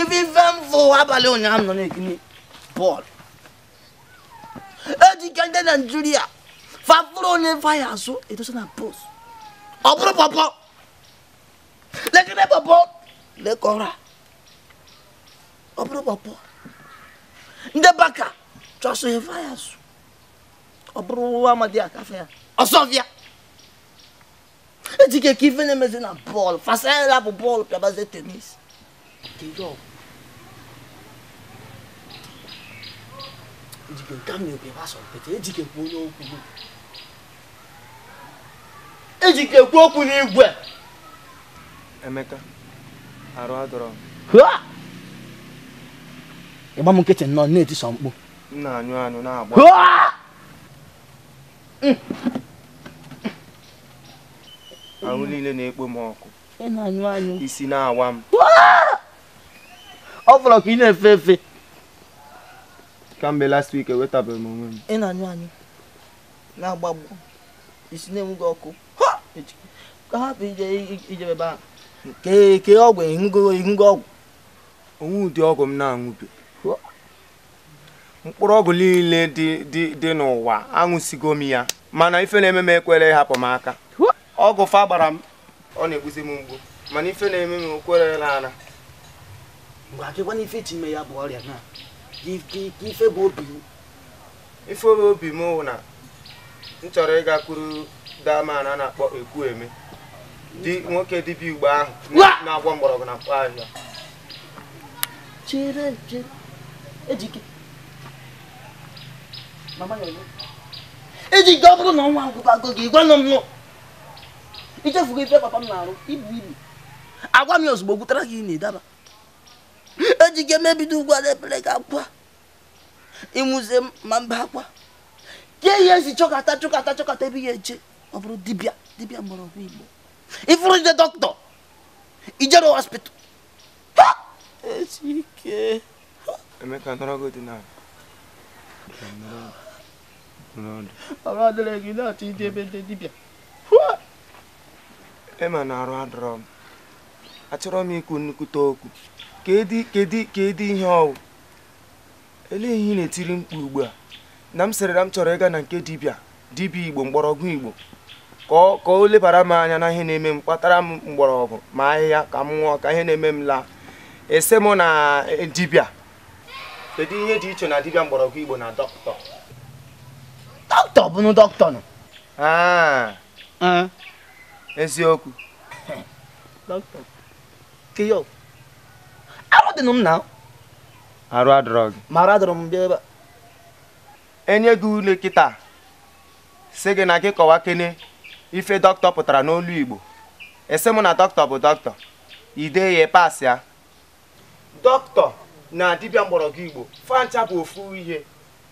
ife ife m fụ abalị ụnyaahụ nọ na-ekiri bọọlụ ejike ndị naijiria fa fụrụ onye faya azụ edosa na post ọ bụrụ pọpọ lekere pọpọ lekọra ọ bụrụ pọpọ ndị baka chọsụ ihe faya azụ ọ bụrụ nwa amadi akafe ya ọsọ ọfịa ejike kee ife na-emezi na bọọlụ fasara bụ bọọlụ pịabazie tenis ejike nke m na-ekwe gbasa mpete ejike kwuo onye okwu gị ejike kwuo okwu n'igwe emeka arụ adọrọ m ị gba m nkịtị nọ na-eti sọ mkpu m na-anyụ anyụ na-agbọ ahụ niile na-ekpo m ọkụ isi na-awa m ọ fọrọ ka ị na-efe efe kamgbe last week enwetabeghị m onwe m ị na-anyụ anyụ na-agbọ agbọ isi na-enwu gị ọkụ ka hapụ ijebe ebe ahụ kee ọgwụ ị ṅụgo ọgwụ o nwe ụdị ọgwụ m na-aṅụbe mkpụrụ ọgwụ niile dị n'ụwa aṅụsigo m ya mana ife na-eme m ekwerọ ịhapụ m aka ọgwụ fa gbara m ọ na-egbuzi m mgbu mana ife na-eme m ekwerọ naa ana mgbe a keekwanụ ife ị chọ ime ya bụ ọrịa na ife bụ obi m ife bụ obi m bụ na m chọrọ ịgakwuru that man a na-akpọ ekwueme nwoke dibịa igbo ahụ na-agwọ mgbọrọgwụ na mkpa ahịhịa chere chere ejike mama ya ọzọ ejike ọ bụrụ na ọnwụ agụbago gị gwanụ m nụ i chefugo ife papa m na-arụ ibu ibu agwa m ya ozugbo o gwutara gị ini ị daba ejike m ebido ugbu a na-ebele gị akwa ị nwụzie ama m ebe akwa kee ihe i si chọkata chọkata chọkata ebe ị ya-eje ọ bụrụ dibịa dibịa mgbọrọgwụ igbo ị fụrọ ije doctor i jerọ hospital emeka nọrọgodị na arụ adịrọ gị ị na-achọ ije ebe ndị dibịa ị ma na arụ adọrọ m achọrọ m ikwu nnukwute okwu kedu kedu kedu ihe ọ wụ Olee ihe ị na-etiri mkpu ugbu a na m sịrị na m chọrọ ịga na nke dibịa dibịa Igbo mgbọrọgwụ Igbo ka ọ ka o lebara m anya na ihe na-eme m kpatara m mgbọrọgwụ ma ahịhịa ka m ṅụọ ka ihe na-eme m laa ị sị mụ na eh, dibịa kedu ihe dị iche na dibịa mgbọrọgwụ Igbo na doctor doctor bụnụ doctor nụ Ah, eziokwu doctor keyo arụ dị m na arụ adịrọ gị ma arụ adịrọ m bịa ebe a e nye gị ule kịta sị gị na gị kọwakene ife doctor pụtara n'olu igbo ị sị mụ na doctor bụ dọkịta i dee ya pasịa dọkịta na dibịa mgbọrọgwụ igbo fa ncha bụ ofu ihe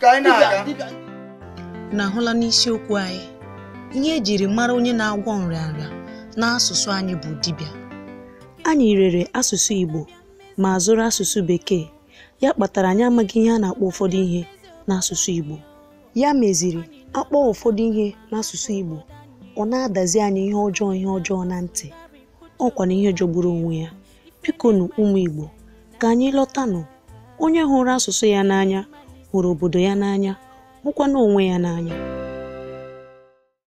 ka anyị na-aga na ahụla n'isiokwu anyị ihe e jiri mara onye na-agwọ nrịanrịa n'asụsụ anyị bụ dibịa anyị rere asụsụ Igbo ma zụrụ asụsụ Bekee ya kpatara anyị amaghị ihe a na-akpọ ụfọdụ ihe n'asụsụ Igbo ya meziri a kpọọ ụfọdụ ihe n'asụsụ Igbo ọ na-adazi anyị ihe ọjọọ ihe ọjọọ na ntị ọkwa na ihe jọgburu onwe ya bikonu ụmụ Igbo ka anyị lọtanụ onye hụrụ asụsụ ya n'anya hụrụ obodo ya n'anya hụkwana onwe ya n'anya